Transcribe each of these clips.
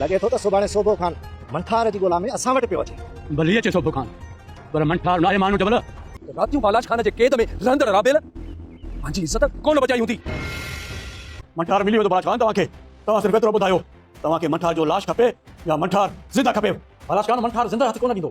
لڳي ٿو ته سڀاڻي سوڀو خان منٺار جي ڳولا ۾ اسان وٽ پيو اچي. ڀلي اچي سوڀو خان، پر منٺار ناهي ماڻهو جبل. راتيون بالاچ خان جي قيد ۾ رهندڙ رابيل پنهنجي عزت ڪونه بچائي هوندي. منٺار ملي ويندو بالاچ خان توهان کي. توهان صرف ايترو ٻڌايو توهان کي منٺار جو لاش کپي يا منٺار زنده کپيو. بالاچ خان منٺار زنده هٿ ڪونه ڏيندو.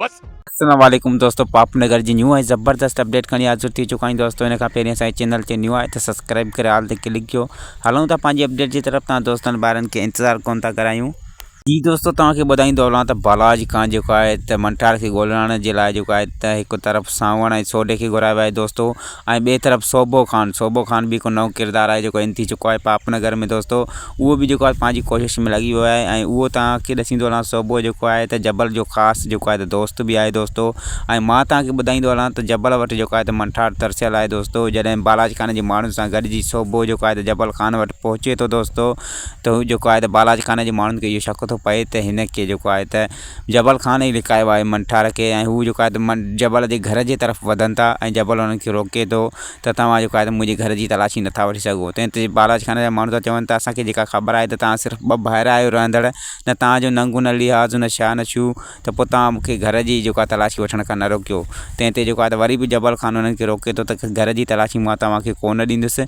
بس السلام عليڪم دوستو پاپ نگر جي نيو ۽ زبردست اپڊيٽ کڻي حاضر ٿي چڪا آهيون دوستو ان کان پهرين اسان چينل تي نيو آهي ته سبسڪرائب ڪري آل تي ڪلڪ ڪيو هلون ٿا پنهنجي اپڊيٽ جي طرف تان دوستن ٻارن کي انتظار ڪون ٿا ڪرايون جي دوستو توهان کي ٻڌائيندو هلان ته بالاج کان جيڪو آهي ته منٺار کي ڳولڻ جي لاء جيڪو آهي ته هڪ طرف سانوڻ ۽ سوڍي کي گهرايو آهي دوستو ۽ ٻئي طرف صوبو خان صوبو خان به هڪ نئون ڪردار آهي جيڪو ان ٿي چڪو آهي پاپ نگر ۾ دوستو اهو به جيڪو آهي پنهنجي ڪوشش ۾ لڳي ويو آهي ۽ اهو تان کي ڏسيندو هلان صوبو جيڪو آهي ته جبل جو خاص جيڪو آهي ته دوست به آهي دوستو ۽ مان تان کي ٻڌائيندو هلان ته جبل وٽ جيڪو آهي ته منٺار ترسيل آهي دوستو جڏهن بالاجي خان جي ماڻهن سان گڏجي صوبو جيڪو آهي ته جبل خان وٽ پهچي ٿو دوستو ته هو جيڪو آهي ته بالاجي خان جي ماڻهن کي اهو شڪ ٿو پئي ته هن کي جيڪو آهي ته جبل کان ئي لڪايو آهي منٺار کي ۽ هو جيڪو آهي ته من جبل جي گهر جي طرف وڌن ٿا ۽ جبل انهن کي روڪي ٿو ته توهان جيڪو آهي ته منهنجي گهر جي تلاشي نٿا وٺي سگهو تنهن تي بالاچ خانه جا ماڻهو ٿا چون ته اسان کي جيڪا خبر آهي ته توهان صرف ٻه ڀائر آهيو رهندڙ نه توهان جو ننگون نه لحاظ نه شاه نه شو ته پوء توهان مون کي گهر جي جيڪو آهي تلاشي وٺڻ کان نه روڪيو تنهن تي جيڪو آهي ته وري به جبل خان انهن کي روڪي ٿو ته گهر جي تلاشي مان توهان کي ڪونه ڏيندس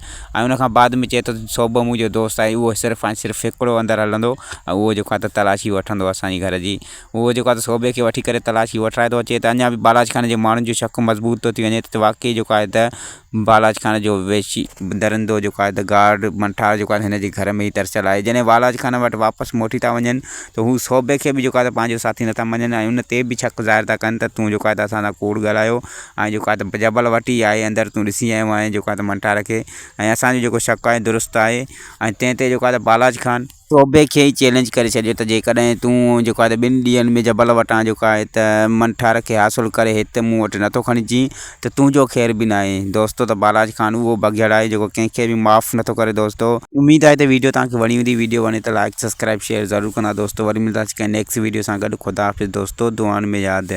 ۽ ان کان بعد ۾ چئي ٿو ته صوبه منهنجو دوست آهي اهو صرف ۽ صرف هڪڙو اندر هلندو ۽ اهو جيڪو آهي ته تلاشي وٺندو اسان جي گهر جي اهو جيڪو آهي ته صوبي کي وٺي ڪري تلاشي وٺرائي ٿو اچي ته اڃا به بالاچ خان جي ماڻهن جو شڪ مضبوط ٿو ٿي وڃي ته واقعي جيڪو آهي ته بالاچ خان جو وحشي درندو جيڪو آهي ته گارڊ منٺار جيڪو آهي ته هن جي گهر ۾ ئي ترسيل آهي جڏهن والاچ خان وٽ واپس موٽي ٿا وڃن ته هو صوبي کي به جيڪو آهي ته پنهنجو ساٿي نٿا مڃن ۽ ان تي به شڪ ظاهر ٿا ڪن ته تون جيڪو آهي ته اسان سان ڪوڙ ڳالهايو ۽ جيڪا ته جبل وٽي آهي اندر تون ڏسي آيو آهين جيڪا ته منٽار کي ۽ اسان جو جيڪو شڪ آهي درست آهي ۽ تنهن تي جيڪا ته بالاچ خان صوبي کي ئي چئلينج ڪري ڇڏيو ته جيڪڏهن تون جيڪا ته ٻن ڏينهن ۾ جبل وٽان جيڪا آهي ته منٽار کي حاصل ڪري هت مون وٽ نٿو کڻي اچين ته تنهنجو خير به ناهي دوستو ته بالاچ خان اهو بگهڙ آهي جيڪو ڪنهن کي به معاف نٿو ڪري دوستو. اميد آهي ته ويڊيو توهان کي وڻي هوندي ويڊيو وڻي ته لائيڪ سبسڪرائيب شيئر ضرور ڪندا دوستو وري ملنداسين ڪنهن نيڪسٽ ويڊيو سان گڏ خداحافظ دوستو دعائن ۾ ياد.